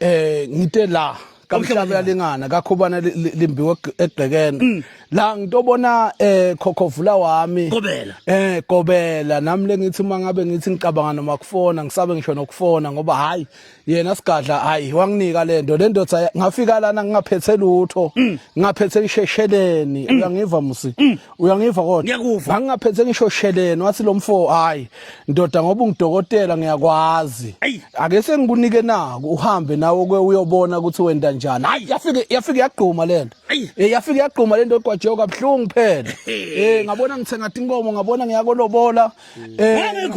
eh ngite la kamhlabelingana kakhubana limbiwe egqekene mm. la ngitobona eh khokhovula wami kobela eh kobela nami lengithi uma ngabe ngithi ngicabanga noma kufona ngisabe ngisho nokufona ngoba hayi yena sigadla hayi wanginika lento lendoda ngafika lana ngingaphethe lutho mm. ngingaphethe ishesheleni mm. uyangiva musi uyangiva kodwa ngiyakuva angingaphethe ngisho sheleni wathi lo mfo hayi ndoda ngoba ungidokotela ngiyakwazi ake sengikunike naku uhambe nawe ke uyobona ukuthi wenda njani hayi yafike yafike yagquma lento eh yafike yagquma lento egwajeyo kabhlungu phela eh ngabona ngithenga inkomo ngabona ngiyakolobola eh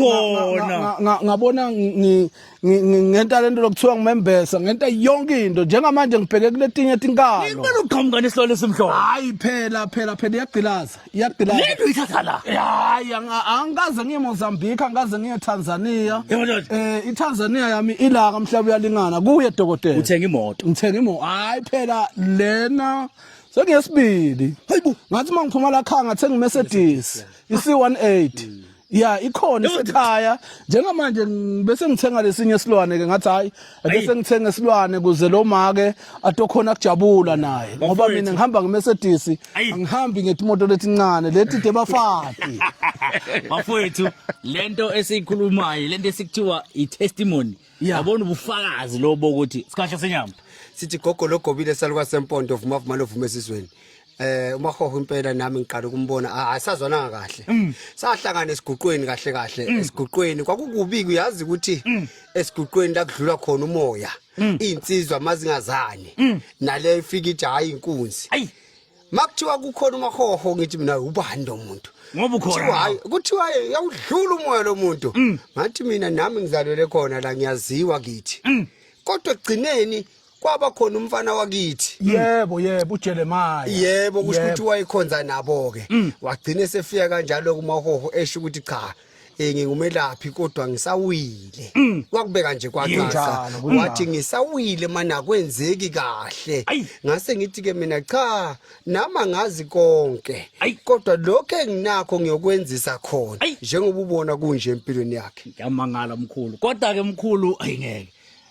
ngabona ngi ngentalento lokuthiwa ngimembesa ngenta yonke into njengamanje ngibheke kuletinye tinkalo ngibona uqhamuka nesilwane esimhlophe hayi phela phela phela iyagqilaza iyagqilaza lento ithatha la hayi angikaze ngiye Mozambique angikaze ngiye Tanzania eh iTanzania yami ilaka mhlaba uyalingana kuye dokotela uthenga imoto ngithenga imoto hayi phela lena sengiyesibili hayibo ngathi mangiphuma la khanga thenga iMercedes i C18 ya ikhona isekhaya njengamanje bese ngithenga lesinye isilwane ke ngathi hayi bese ngithenga isilwane kuze lo make atokhona kujabula naye ngoba mina ngihamba ngeMercedes angihambi ngetimoto letincane leti debafati bafowethu lento esiyikhulumayo lento esikuthiwa itestimony yabona ubufakazi lobo ukuthi sikahle senyama sithi gogo logobile saluka sempondo vuma vuma lovume esizweni eh umahoho impela nami ngiqala ukumbona ah, asazwananga kahle mm. sahlangana esiguqweni kahle kahle mm. esiguqweni kwakukubi uyazi ukuthi mm. esiguqweni la kudlula khona umoya insizwa amazingazane nale ifika ithi hayi inkunzi makuthiwa kukhona umahoho ngithi mina ubani lo muntu ngoba ukhona hayi kuthiwa yawudlula umoya lo muntu ngathi mina nami ngizalwele khona la ngiyaziwa kithi kodwa egcineni kwaba khona umfana wakithi mm. yebo yebo uJeremiah yebo kusho ukuthi wayekhonza nabo ke mm. wagcina sefika kanjalo kumahoho esho ukuthi cha eh ngingumelaphi kodwa ngisawile mm. wakubeka nje kwacaca wathi ngisawile mana kwenzeki kahle ngase ngithi ke mina cha nama ngazi konke kodwa lokho enginakho ngiyokwenzisa khona njengoba ubona kunje empilweni yakhe ngiyamangala mkhulu kodwa ke mkhulu ayingeke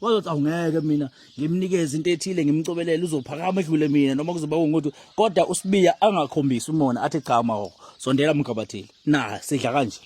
wazothi awungeke mina ngimnikeze into ethile ngimcobelele uzophakama edlule mina noma kuzoba kunguthi kodwa usibiya angakhombisi umona athi cha mahoko sondela mgabathile na sidla kanje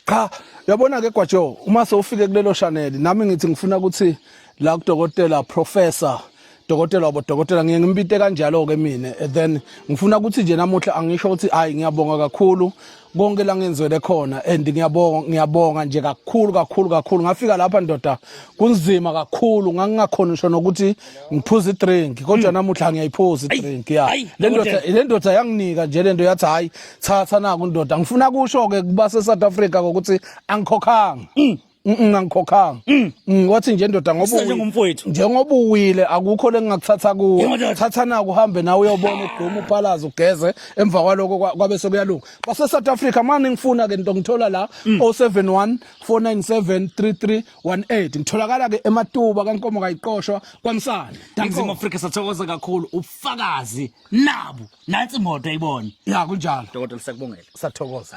cha yabona ke gwajo uma sewufike kulelo chanel nami ngithi ngifuna ukuthi la kudokotela professor dokotela wabo dokotela ngiye ngimpite kanjalo-ke mina and then ngifuna ukuthi nje namuhla angisho ukuthi hhayi ngiyabonga kakhulu konke la ngenzwele khona and ngiyabonga ngiyabonga nje kakhulu kakhulu kakhulu ngafika lapha ndoda kunzima kakhulu ngangingakhona ngisho nokuthi ngiphuze idrink kodwa hmm. namuhla ngiyayiphuza idrink ya le ndoda le ndoda yanginika nje le nto yathi hhayi thatha naku ndoda ngifuna kusho-ke kuba se-south africa kokuthi angikhokhanga hmm. ngangikhokhanga mm. mm, wathi nje ndoda ngoba njengoba uwile akukho lengingakuthatha kuwo thatha naku uhambe nawe uyobona udume uphalaza ugeze emva kwaloko kwabe sekuyalunga base South Africa manje ngifuna ke into ngithola la 071 497 3318 ngitholakala ke ematuba kankomo kayiqoshwa kwamsana Mzima Africa sathokoza kakhulu ufakazi nabu nansi imoto ayibona ya kunjalo dokotela sakubongela sathokoza